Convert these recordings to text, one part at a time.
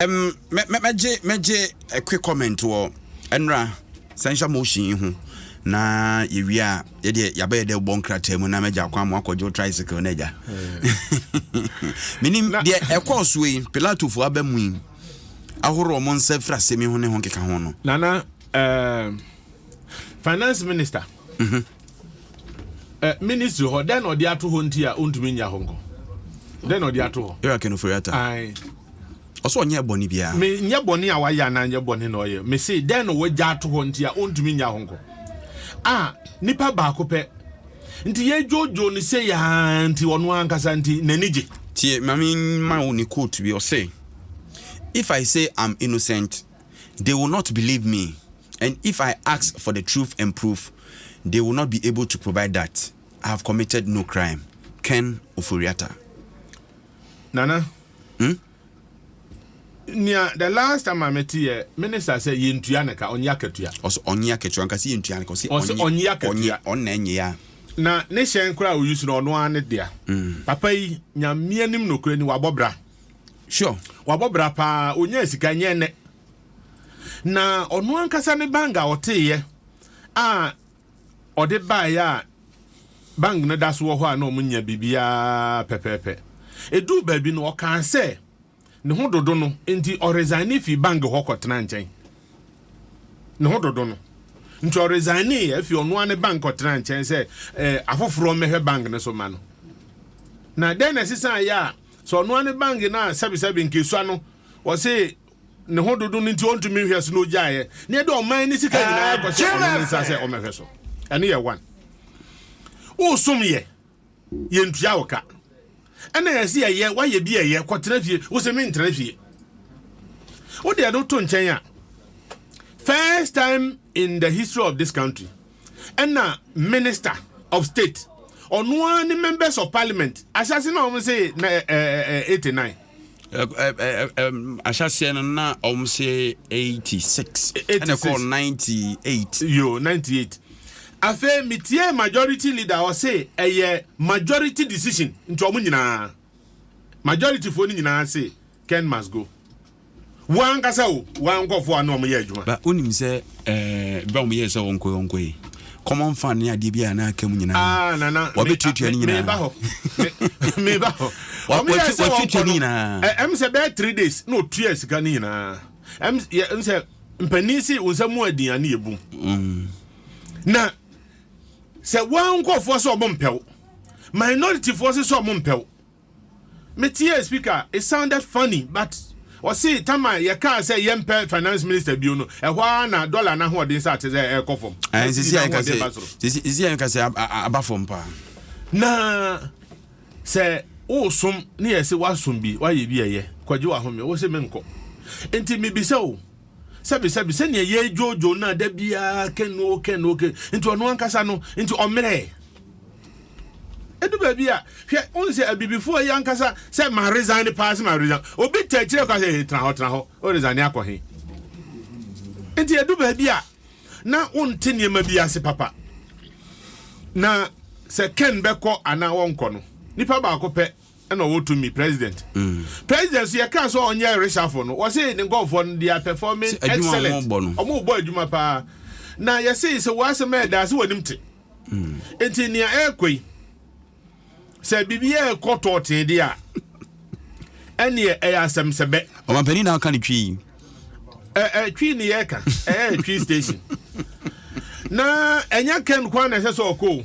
Um, me me megye megye a quick comment wɔ ɛnra censure motion yi ho na yɛwie a yɛdeɛ yɛabɛyɛ dɛ bɔ nkrataa mu na mɛgya akwan mo akɔgye tricycle no agya menim deɛ ɛkɔɔ soɔ yi pilatofoɔ aba mu yi ahoroɔ mo nsa firi asɛm yi ho ne ho nkeka ho no nana uh, finance minister mm -hmm. Ɛ ministry hɔ dɛn na ɔde ato hɔ nti a ɔntumi nya hɔ nkɔ dɛn na ɔde ato hɔ. Eric Enoforiata. Ae. Ɔsɛ ɔnyɛ bɔne biara. Me nyɛ bɔne a wayɛ anaa nyɛ bɔne na ɔyɛ me se dɛn na wɔagya ato hɔ nti a ɔntumi nya hɔ nkɔ a nipa baako pɛ nti yɛdwodwo no sɛ yɛa nti ɔno ankasa nti n'ani gye. Tie ma me ma wo ne quote bi ɔse if I say I'm innocent They will not believe me, and if I ask for the truth and proof, they will not be able to provide that I have committed no crime, Ken Ofori-Atta. Nana, hmm? nea the last time a mete yɛ minister sɛ yɛntua ne ka ɔnye akatua ɔsɛ ɔnye akatua nka sɛ yɛntua ne ka ɔsɛ ɔnye akatua ɔnna ɛnyɛ ya na ne hyɛn koraa a ɔyi so no ɔno ara ne dea mm. papa yi nyamea nim nokorɛ ni wabɔ bra Sure. Wabɔ bra paa, onyaa sika nyɛ nnɛ. Na ɔno ankasa ne bang a ɔteeɛ a ɔde baeɛ a bang no da so wɔ hɔ a na ɔmo nya biribiara pɛpɛɛpɛ. Eduu baabi no ɔkaa sɛ ne ho dodo no nti ɔresign fi bang hɔ kɔtena nkyɛn. Ne ho dodo no nti ɔresign afi ɔno ara ne bang kɔtena nkyɛn sɛ eh, afoforɔ mmɛhwɛ bang no so ma no. Na dɛn na ɛsesan yɛ a Sɛ ɔnoa ne bange no a sɛbesɛbe nkesua no ɔse ne ho dodo no nti ɔntumi nhwɛ so na ɔgyaeɛ na ɛde ɔman ne sika nyinaa kɔhyɛ ɔno ne nsa sɛ ɔmɛhwɛ so ɛno yɛ one wosom yɛ yɛntua wo ka ɛna yɛse yɛyɛ woayɛ bi ɛyɛ kɔtena fie wose mentena fie wode ɛno to nkyɛn a first time in the history of this country ɛna minister of state ɔno ara ne members of parliament ahyɛse na wɔn se na ɛ ɛ ɛ eighty nine. ahyɛseɛ no na wɔn se eighty six ɛna kɔ ninety eight. yo ninety eight afei metie majority leader ɔse ɛyɛ majority decision nti wɔn nyinaa majority foɔ no nyinaa se ken must go. Wo ankasa o, wo ara nkurɔfoɔ a na wɔyɛ adwuma. Ba wonim sɛ ɛɛ bɛ a wɔyɛɛ sɛ wɔnkɔe wɔnkɔe common fund ne adeɛ bi a na aka mu nyinaa. Ah nana. Wɔbɛtuatua ne nyinaa. Meba hɔ. Meba hɔ. Wɔyɛɛ sɛ wɔnkɔ no nyinaa. Ɛm sɛ bɛyɛ three days na ɔtua sika ne nyinaa. Ɛm sɛ mpanin se wo nsa mu adin a ne yɛ bum. Mm. Na sɛ wɔn nkurɔfoɔ sɛ wɔn mpɛw minority foɔ sɛ sɛ wɔn mpɛw. Me tiee speaker it sounded funny but ɔse tama yɛ kaa sɛ yɛ mpɛ finance minister bio no ɛhɔ ara na dollar na ahoɔden sa te sɛ ɛkɔ fam na sisi na ahoɔden ba soro. Sisi yɛn kasɛ aba fam paa. Na sɛ wosom ne yɛ se wasom bi wayɛ bi ɛyɛ kɔgye wahome wose menkɔ nti mebisa o Sɛbi, sɛbi, sɛnea yɛredwoodwoo no a da biara kɛn o kɛn o kɛn nti ɔno ankasa no nti ɔmmerɛɛ. Edu baabi a hwɛ wohu sɛ abibifoɔ yi ankasa sɛ ma resign paa sɛ ma resign obi ta akyire kɔ sɛ tena hɔ tena hɔ o resign akɔ he. Nti edu baabi a na wonte nneɛma bi ase papa. Na sɛ Ken bɛkɔ anaa wɔnkɔ no nipa baako pɛ ɛna ɔwɔ tumi president mm. president so yɛkaa sɛ ɔnyɛ resafo no wɔse ne nkɔfoɔ no they are performing excellent ɔmo bɔ adwuma paa na yɛse sɛ wɔasɛm a ɛdaa sɛ wɔnim te mm. nti nea ɛrekɔ yi sɛ biribi yɛ ɛkɔ tɔɔtee deɛ a ɛneɛ ɛyɛ asɛm sɛ bɛ ɔmampanin na aka ne twi yi twi ne yɛka ɛyɛ twi station na ɛnyɛ kɛn kwan na ɛsɛ sɛ ɔkɔ o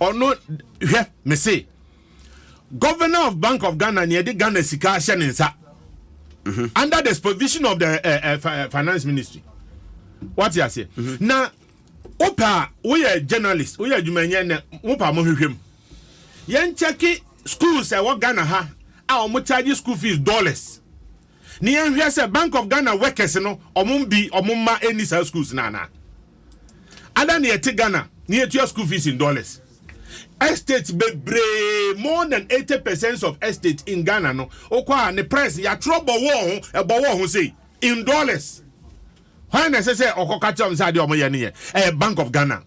ɔno hwɛ me se governor of bank of ghana nea ɛde ghana sika ahyɛ ne nsa mhm. under the supervision of the uh, uh, finance ministry wate aseɛ mhm. na wopɛ a woyɛ journalist woyɛ adwumanyɛ nɛ wopa mo hwehwɛ mu yɛnkyɛke schools ɛwɔ ghana ha a wɔn charge school fees dollars Ne yɛn hwɛ sɛ bank of Ghana workers no ɔmom bi ɔmom mma ɛnni saa schools no anaa? Ada ne yɛte Ghana ne yɛtua school fees in dollars. Estates bebree more than 80 percent of estate in Ghana no wokɔ a ne price yɛatwerɛ bɔwɔɔ ho ɛbɔwɔɔ ho sei in dollars. Hwan na ɛsɛ sɛ ɔkɔka kyerɛ ɔm sɛ adeɛ ɔmo yɛ no yɛ ɛyɛ bank of Ghana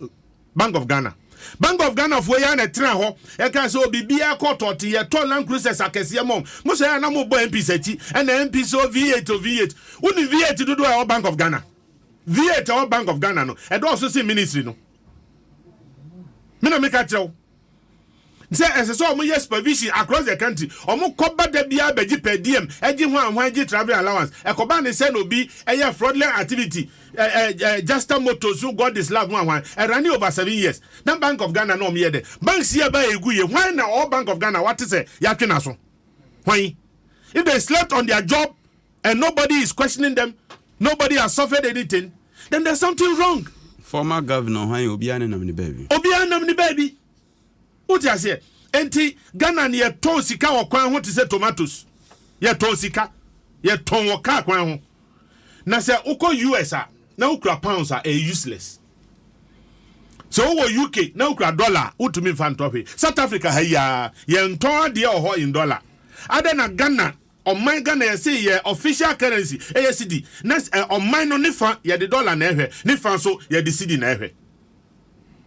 Bank of Ghana Bank of Ghana foɔ yi ara na ɛtenaa hɔ ɛkaa sɛ o biribiara kɔ tɔɔte yɛtɔ Land Cruisers akɛseɛ ma wɔn mo sɛ ɛyɛ a na mobɔ MPs akyi ɛna MPs o V8 o V8 wonim V8 dodoɔ a ɛwɔ Bank of Ghana V8 a ɛwɔ Bank of Ghana no ɛdɔɔso sen Ministry no me na meka kyerɛ wo sɛ ɛsɛ sɛ wɔyɛ supervision across the country. Wɔkɔba da biara bɛgye per diem, gye hwanhwan, gye travelling allowance. Ɛkɔba ne sɛ na obi yɛ fraudulent activity, eh, eh, eh, Juster Motors no God is Love hwanhwan. Ɛrane over seven years. Na Bank of Ghana na wɔyɛ dɛ. Banks yi a ɛbaa egu yi, hwan na ɔwɔ Bank of Ghana a wate sɛ yɛatwe n'aso? Hwan? If they slept on their job, and nobody is questioning them, nobody has suffered anything, then there's something wrong. Former governor hwan obiara ne nam ne baabi. Obiara nam ne baabi. Wote aseɛ? Enti Ghana no yɛtɔn sika wɔ kwan ho te sɛ tomatoes. Yɛtɔn sika. Yɛtɔn wɔ kaa kwan ho. Na sɛ wokɔ US a na wokura pounds a ɛyɛ useless. Sɛ wowɔ UK na wokura dollar a wotumi mfa ntɔ hwee. South Africa ha yi ara yɛntɔn adeɛ wɔ hɔ in dollar. Adɛn na Ghana Ɔman Ghana yɛse yɛ official currency ɛyɛ cedi na ɔman no ne fa yɛde dollar na ɛhwɛ ne fa nso yɛde cedi na ɛhwɛ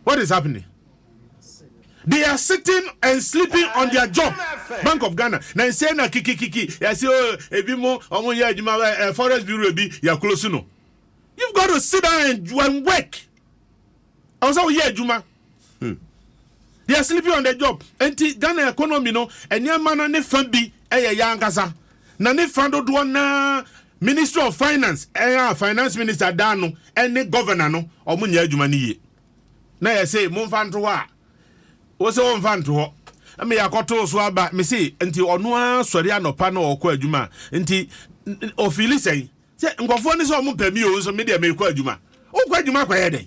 what is happening they are sitting and sleeping on their job Bank of Ghana na nsɛ na kikikiki yɛse o oh, ebi mo ɔmo yɛ adwuma eh, eh, forest bureau bi yɛ close no you've got to sit down and work ɛwɔ sɛ woyɛ adwuma hmm. they are sleeping on the job nti ghana economy no nneɛma no ne fa bi ɛyɛ yɛ ankasa na ne fa dodoɔ naa ministry of finance ɛyɛ finance minister daa no ɛne governor no ɔmo nyɛ adwuma no yie na yɛ se mo nfa nto hɔ a wɔ sɛ wɔn nfa nto hɔ ɛmɛ yɛ akɔto so aba mɛ se nti ɔno ara sɔre anɔpa na ɔkɔ adwuma nti ofili sɛn Sɛ nkurɔfoɔ ne sɛ wɔmpɛ me oo, nso me deɛ merekɔ adwuma. Wokɔ adwuma akɔyɛ dɛn?